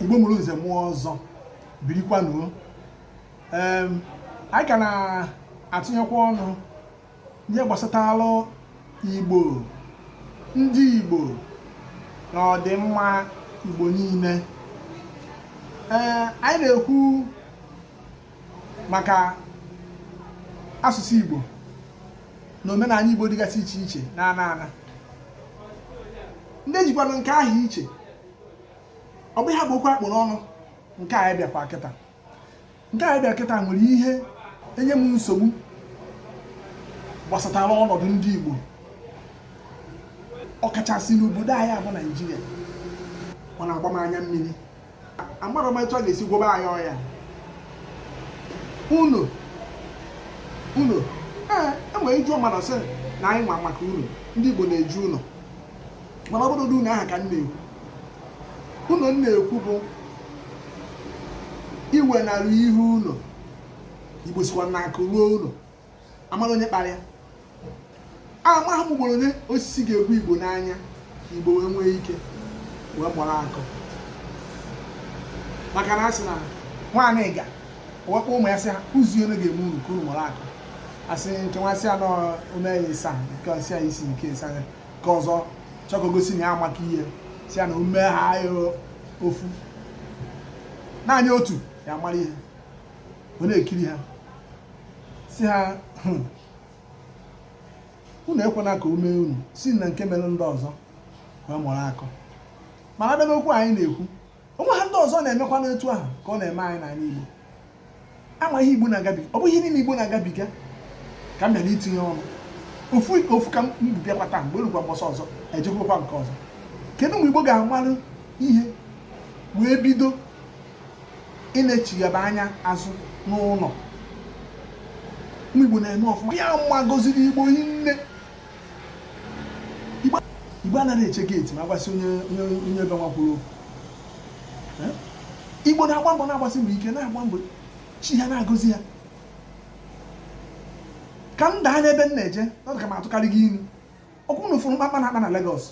igbo mụrụ nze mụọ ọzọ birikwanụ o anyị ka na-atụnyekwa ọnụ n'ihe gbasatalụ igbo ndị igbo na ọdịmma igbo niile ee anyị na-ekwu maka asụsụ igbo na omenala igbo dịgasị iche iche na ana ana ndị jikwanụ nke ha iche ọ bụ ihe bụ okwu a kpụ n'ọnụ nke anyị bịakwa kịta nke anyị bịa kịta nwere ihe enye m nsogbu gbasatara ọnọdụ ndị Igbo ọkachasị n'obodo anyị a bụ Naijiria ọ na-agba m anya mmiri amarọ m etu a ga-esi gwọba anyị ọya ụnọ ụnọ ee enwere iju ọmana sị na anyị nwa maka ụnọ ndị Igbo na-eje ụnọ mana ọ bụrọ ụdị ụnọ ahụ ka m na-ekwu ụnọ m na-ekwu bụ iwenarị ihe ụnọ igbo sịkwa na akụ ruo ụnọ a mara onye kpara ya amaghị m ugboro one osisi ga-egbu igbo n'anya igbo wee nwee ike wee gbara akọ maka na a sị na nwa aniga wee kpọ ụmụ ya sị ha ụzọ one ga-eme unu ka unu gbara akọ a sị nke nwa sị ya na o mee ya ịsaa nke ọ sị ya isii nke ịsa ya nke ọzọ chọọ ka o gosi na ya amaka ihe sị ya na o mee ya ofu naanị otu ya mara ihe ọ na-ekiri ha sị ha "Hmm, unu ekwena ka o mee unu si na nke mere ndị ọzọ wee mụrụ akọ mana a bịa n'okwu anyị na-ekwu o nweha ndị ọzọ na-emekwa n'etu ahụ ka ọ na-eme anyị n'ala Igbo a ma ihe Igbo na-agabiga ọ bụghị ihe niile Igbo na-agabiga ka m bịara itinye ọnụ ofu ka ofu ka m bịakwa taa mgbe e lukwa mbọsị ọzọ e jekwakwa nke ọzọ kedu mgbe Igbo ga-amalụ ihe wee bido ịna-echighaba anya azụ n'ụnọ Igbo na-eme ọfụma ya ma gọziri Igbo hinne igbo anaghị eche geeti ma agbasi onye onye be nwa kwuru okwu igbo na-agba mbọ na-agbasi mbọ ike na-agba mbọ chi ha na-agọzi ya ka m daa n'ebe m na-eje ọ dị ka m atụkarịgo inu ọ kwa unu fụrụ mkpamkpa a na-akpa na Lagos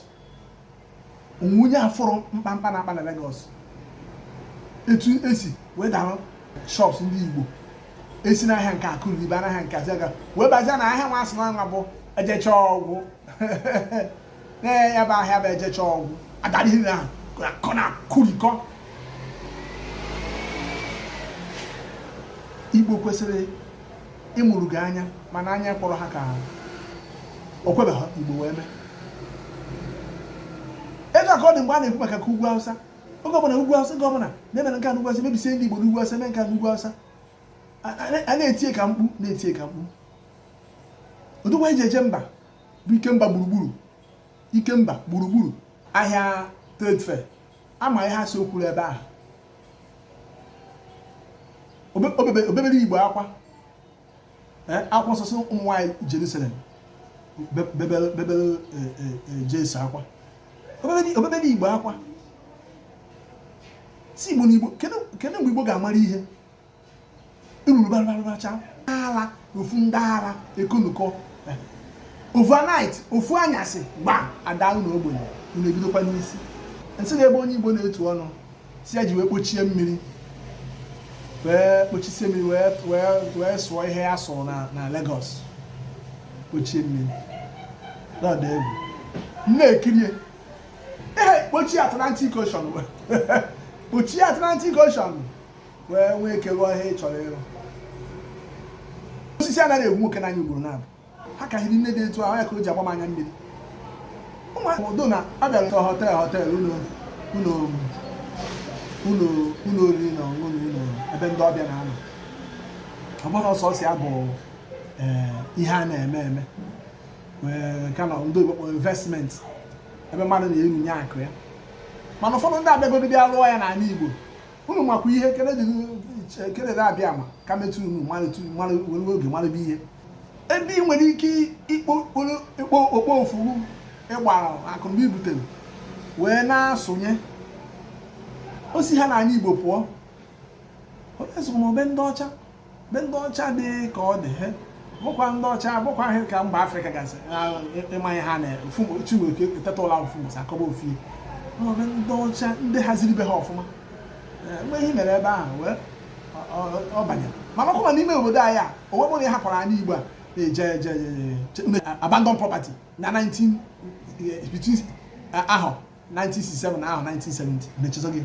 o nwe onye afụrọ mkpamkpa a na-akpa na Lagos etu e si wee darụ shops ndị Igbo e si n'ahịa nke a kụrie ba n'ahịa nke a zịa wee bazia na ahịa nwa a sị na nwa bụ e jechaa ọ gwụ na ya bụ ahịa bụ e jechaa ọ gwụ a darikọ na kụrikọ Igbo kwesịrị ịmụrụ gị anya mana anya kpọrọ ha ka o kwebeghị igbo wee mee etu a ka ọ dị mgbe a na-ekwu maka ka ugwu awụsa oge ọbụla ugwu awụsa oge ọbụla na-emere nke a n'ugwu awụsa mebisie ndị igbo n'ugwu awụsa mee nke a n'ugwu awụsa a na-etie ka mkpu na-etie ka mkpu odogwu e ji eje mba bụ Ikemba gburugburu Ikemba gburugburu ahịa trade fair ama ihe a sị o kwuru ebe ahụ o bebere igbo akwa eh, akwa nsọsọ ụmụ nwaanyị Jerusalem bebere eh, eh, Jesu akwa o bebere igbo akwa sị igbo na igbo kedu mgbe igbo ga-amara ihe eruru barabaracha ala ofu ndị ara ekonukọ overnight ofu anyasị gba ada unu ogbenye unu ebidokwa n'isi nsị na ebe onye igbo na-etu ọnụ sị ya ji wee kpochie mmiri wee kpochisie mmiri wee sụọ ihe ya sụrụ na Lagos kpochie mmiri n'ọdụ egwu na-ekirie ee kpochie Atlantic Ocean kpochie Atlantic Ocean wee nwee ike rụọ ihe ị chọrọ ịrụ osisi anaghị egbu nwoke n'anya ugboro naabọ ha ka hiri nne dị etu ahụ ya ka o ji agba m anya mmiri ụmụaka odo na abịara ka họtel họtel ụlọ ụlọ ụlọ ụlọ oriri na ọṅụṅụ na ụlọ ebe ndị ọbịa na-anọ ọ bụrụ sọsọ ya bụ eh, ihe a na-eme eme wee ka na ndị oyibo kpọrọ investment ebe mmadụ na-erunye akụ ya mana ụfọdụ ndị abịagodo bịa rụọ ya n'ala Igbo unu makwa ihe ekele dị ekele na-abịa ama ka metụ unu mara were oge marabe ihe ebe ị nwere ike ịkpo okpo ofuru ịgbara akụnụba i butere wee na-asụnye osi ha n'ala Igbo pụọ ọ be ndị ọcha be ndị ọcha dị ka ọ dị he bụkwa ndị ọcha bụkwa ihe ka mba afrịka gasị ịma ihe ha na-efumochiweke eteta ụla ofu mbọsị akọba ofu ihe ọ be ndị ọcha ndị haziri be ha ọfụma mgbe ihe mere ebe ahụ wee ọ banyere mana ọkwa n'ime obodo anyị a onwe bụrụ ya hapụrụ anyị igbo a na-eje eje abandon property na 19 between ahọ 1967 na ahọ 1970 mechizọ gị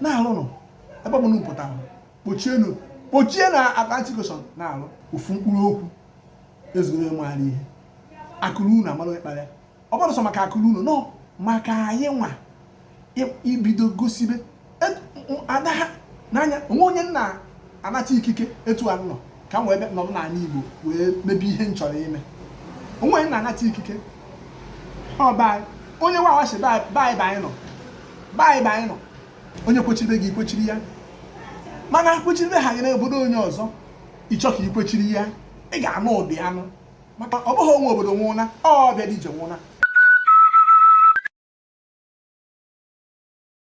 na-alụnụ ebe ọbụla unu pụta kpochienu kpochie na Atlantic Ocean na-alụ ofu mkpụrụ okwu ezugoro onye maara ihe akụ ruo ụnọ amara onye kpara ya ọ bụrụ sọ maka akụ ruo ụnọ maka anyị nwa ibido gosibe e, ada ha n'anya onwe onye nna anata ikike etu a nọ ka m wee bịa nọrọ n'ala Igbo wee mebe ihe m chọrọ ime onwe m na-anata ikike ọba onye nwa awachi bye bye bye nụ bye bye nụ onye kwechiri gị i kwechiri ya mana kwechiri ha gị n'obodo onye ọzọ ị chọọ ka i kwechiri ya ị ga-anụ ụdị anụ maka ọ bụghị gị nwe obodo nwụna ọbịara ije nwe ụna